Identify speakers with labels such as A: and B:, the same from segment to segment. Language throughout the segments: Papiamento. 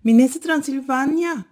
A: Minister Transilvania,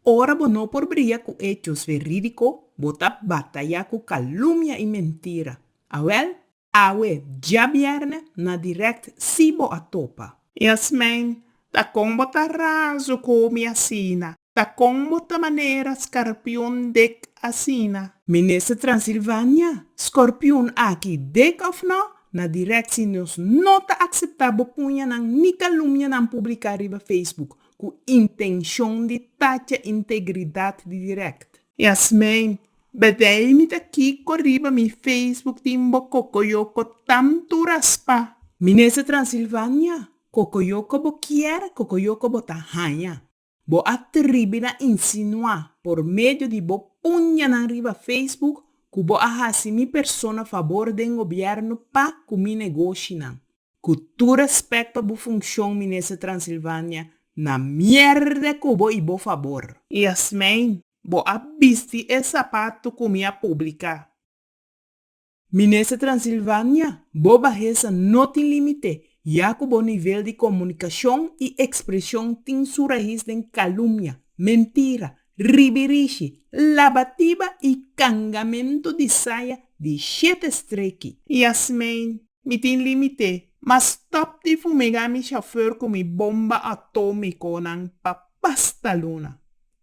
A: ora bo no por briga cu hechos veridico, bo ta bataya cu calumnia y mentira. Awel, awe, diabierne, na direct si bo a topa. Yasmijn, Ta con bo ta razo cu mi asina. Ta con bo ta manera scarpion dek asina. Minister Transilvania, scorpion aki dek of no, na directie nos no ta acepta bo puñanan ni calumnianan publica riba Facebook cu intencion di tacha integridad di direct. Yasmijn, Bedij mi ta kico riba mi Facebook tin bo cocoyoco tanto raspa? Minister Transilvania, Cocoyoco bo kier, cocoyoco bo ta haña. Bo a tribi na insinuá por medio di bo puñanan riba Facebook cu bo a haci mi persona fabor den gobierno pa cu mi negoshinan. Cu tur respect pa bo funcion Minister Transilvania, na mierde cu bo y bo fabor. Yasmijn, bo a bisti e zapato cu mi a publica. Minister Transilvania, bo bahesa no tin limite, ya cu bo nivel di comunicacion y expresion tin su raiz den calumnia, mentira, ribirishi, labatiba y cangamento di saya di shete streki. Yasmijn, Mi tin limite, ma stop di fumega mi chauffeur cu mi bomba atomiconan pa pasta luna.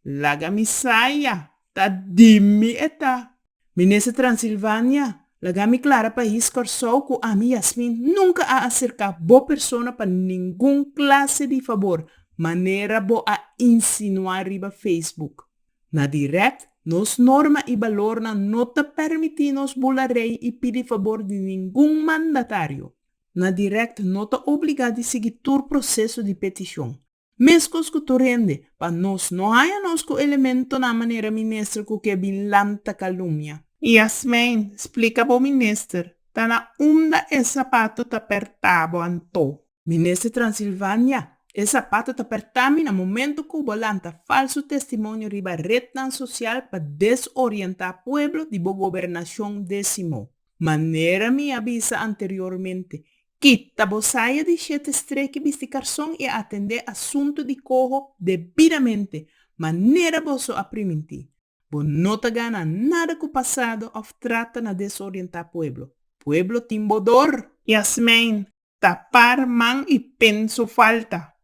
A: Laga mi saya, ta di mi e ta. Minister Transilvania, laga mi clara pais Corsou cu ami Yasmin nunca a acerca bo persona pa ningun clase di fabor manera bo a insinua riba Facebook. Na direct nos norma y balornan no ta permiti nos bula rey y pidi fabor di ningun mandatario. Na direct no ta obliga di sigui tur proceso di peticion. Meskos ku tur hende, pa nos no haña nos ku elementonan manera minister ku ke bin lanta kalumnia. Yasmijn, Splika bo minister, ta na unda e sapatu ta pertá bo anto? Minister Transilvania, E sapatu ta pertá mi na momentu ku bo lanta falsu testimonio riba retnan sosial pa desorientá pueblo di bo gobernashon désimo. Manera mi a bisa anteriormente, Kita bo saya di shete streki bisti karson i atendé asuntu di koho debidamente, manera boso a primintí. Bo no ta gana nada ku pasado òf trata na desorientá pueblo. Pueblo tin bo dor! Yasmijn, Tapar man i penso falta.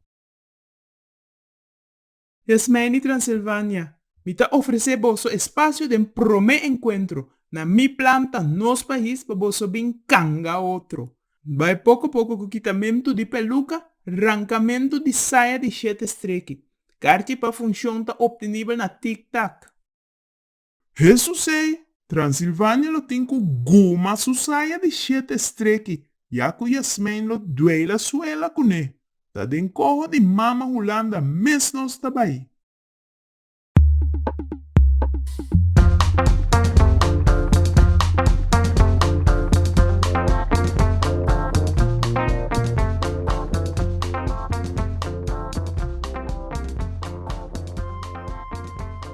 A: Desmei di Transilvania, mi ta ofresé boso e spasio den promé enkuentro na mi planta nos pais pa boso bin kanga otro. N bai poko poko ku kitamentu di peluka, rankamentu di saya di shete streki. Karchi pa funshon ta optenibel na Tik Tak. Jesus ei, Transilvania lo tin cu guma su saya di shete streki, ya cu Yasmijn lo duela suela cune, ta den coho di mama Hulanda mes nos ta bai.